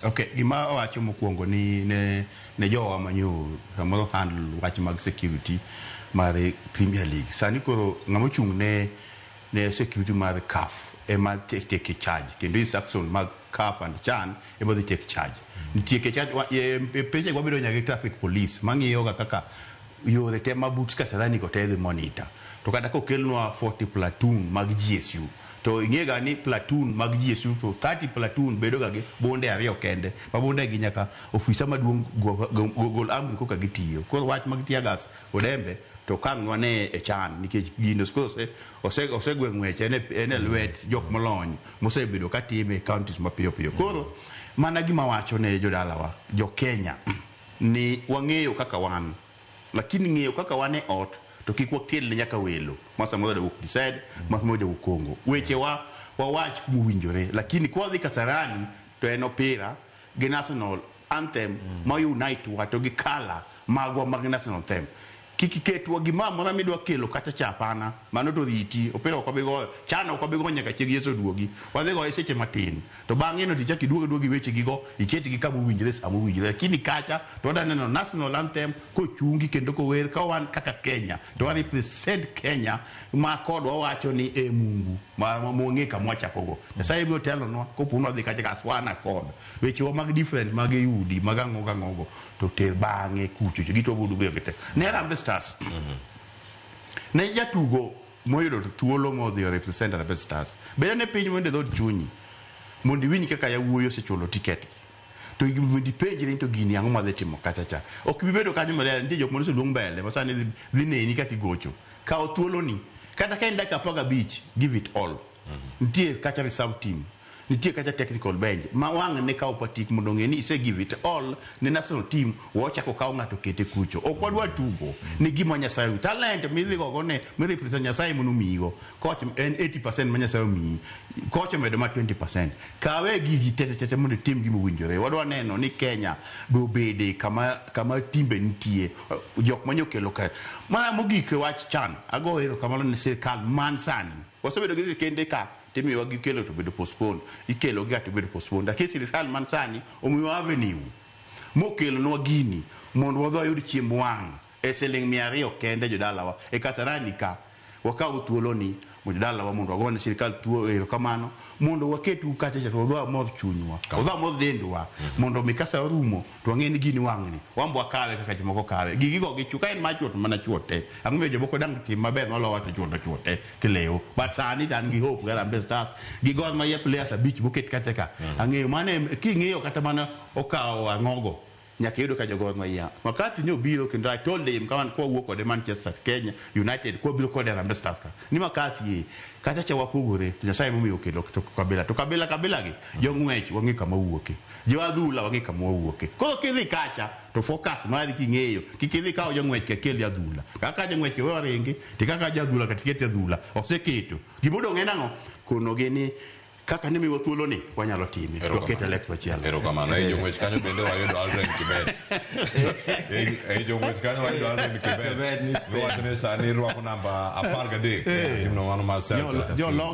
Ok, gima awacho mokuongo ni ne ne jowa manyo samoro handle wach mag security mar Premier League. Sani koro ng'ama ochung' ne ne security mar CAF ema take take charge kendo instruction mag CAF and CHAN ema dhi take charge. Nitie ke charge wa- e- e pechego wabedo nyaka gi traffic police mang'iyoga kaka yore te ma but Kasarani go te dhi monitor. To kata kokelnwa 40 platoon mag GSU To ing'e ga ni platoon mag GSU to 30 platoon bedo ga gi bunde ariyo kende ma bunde gi nyaka ofisa maduong' gol amri koka gitiyo. Koro wach mag tear gas kod embe to okang' nwane e chan nikech gino skose ose ose gwe ng'wech en e lwet jok molony mosebedo ka time e counties mapiyo piyo. Koro mana gima awacho ne jodalawa jo Kenya ni wang'eyo kaka wan. Lakini ng'eyo kaka wan e ot to kik wakel ne nyaka welo ma samoro jawuok Gised, ma samoro jawuok Congo. Weche wa wawach kuma owinjore lakini ka wadhi Kasarani to en opira gi national anthem ma u unite wa to gi colour magwa mag national anthem. Kik iketwa gimoro amora midwa kelo kacha cha apana, mano to oriti. Opira ok wabi goyo, chan ok wabi goyo nyaka chieng' Yesu oduogi. Wadhi goye seche matin. To bang'eno to ichak iduog aduoga gi wechegigo, iketgi kama owinjore sama owinjore. Lakini kacha to wadwa neno National Anthem kochungi kendo kower ka wan kaka Kenya, to wa represent Kenya ma kod wawacho ni e Mungu ma ma mwang'e kama wachakogo. Nyasaye biro telonwa kopo ni wadhi kacha kas wan akod wechewa mag different mag ei udi mag ang'o gi ang'ogo to ter bang'e kuchocho gitwago duge gite. Ne Harambee Stars, ne jatugo moyudo to thuolo modhi o represent Harambee Stars. Bed ane piny mondo e dhood chunyi mondo iwinj kaka yawuoyi osechulo tiket gi. To igi mondo ipenjri ni to gini ang'o madhi timo kacha cha. Ok ibi bedo kanyo milele nitie jok mane oseluong mbele ma sani dhi neni kaka igocho. Kaw thuoloni. Kata ka en dakika apar gabich, give it all. Nitie kacha reserve team, nitie kacha technical bench ma wang' ne kawo patik mondo ong'e ni ise give it all ne national team, we ochak okaw ng'ato okete kucho. Ok wadwa tugo ne gima Nyasaye omiyi. Talent midhi gogo ni mi represent Nyasaye ema nomiyigo. Coach en 80% ma Nyasaye omiyi, coach omedo mana 20%. Kawe gigi tete tete mondo itim gima owinjore. Wadwa neno ni Kenya be obede kama kama timbe nitie, jok manyokelo ka. Mar mogik e wach chan, agoyo erokamano ne sirkal man sani. Wasebedo gi sirkende ka to imiyowa gikelo to bedo postponed, ikelo ga to ibedo postponed. Lakini sirkal man sani omiwa avenue mokelonwa gini mondo wadhi wayud chiemb wang' e siling' mia ariyo kende jodalawa e Kasarani ka. Wakaw thuoloni mondo jodalawa mondo wagone sirkal thuo erokamano mondo waketu kacha cha to wadhi wamodh chunywa, wadhi wamodh dendwa mondo mi ka saa orumo To wang'eyo ni gini wang'ni, wan be wakawe kaka jomoko kawe. Gigi go gi chwo, ka en mar chwo to mana chwo te. Ang'o momiyo jomoko dang' tim maber malowa to chwo to chwo te kilewo. But sani to an gi Hope gi Harambee Stars gi Gor Mahia players abich moket kacha ka. Ang'eyo mano em king'iyo kata mana okawo ang'ogo nyaka iyudo ka jo Gor Mahia. Makati ne obiro kendo I told him ka wan ka wawuok kode Manchester, Kenya, United ka wabiro kode Harambee Stars ka ni Makati ee, kacha cha wapogore to Nyasaye ema omiyo okelo to Kabila. To Kabila Kabila gi jong'wech wang'eyo kama owuoke. Jo adhula wang'e kama wawuoke. Koro kidhi kacha to focus mari king'eyo kik idhi kawo jang'wech ka keli adhula. Kaka jang'wech ka wewa ringi to kaka ja adhula ka tiketi adhula. Oseketo. Gima odong' en ang'o? Konogi ni kaka ne miwa thuolo ni wanyalo time. To waket e lek machielo. Erokamano. Ei jong'wech kanyo bende wayudo Aldrin Kibet. Ei- Ei jong'wech kanyo wayudo Aldrin Kibet. Miwacho ni sani rwako namba apar gadek. Timno mano mar Celta. Jo- jo-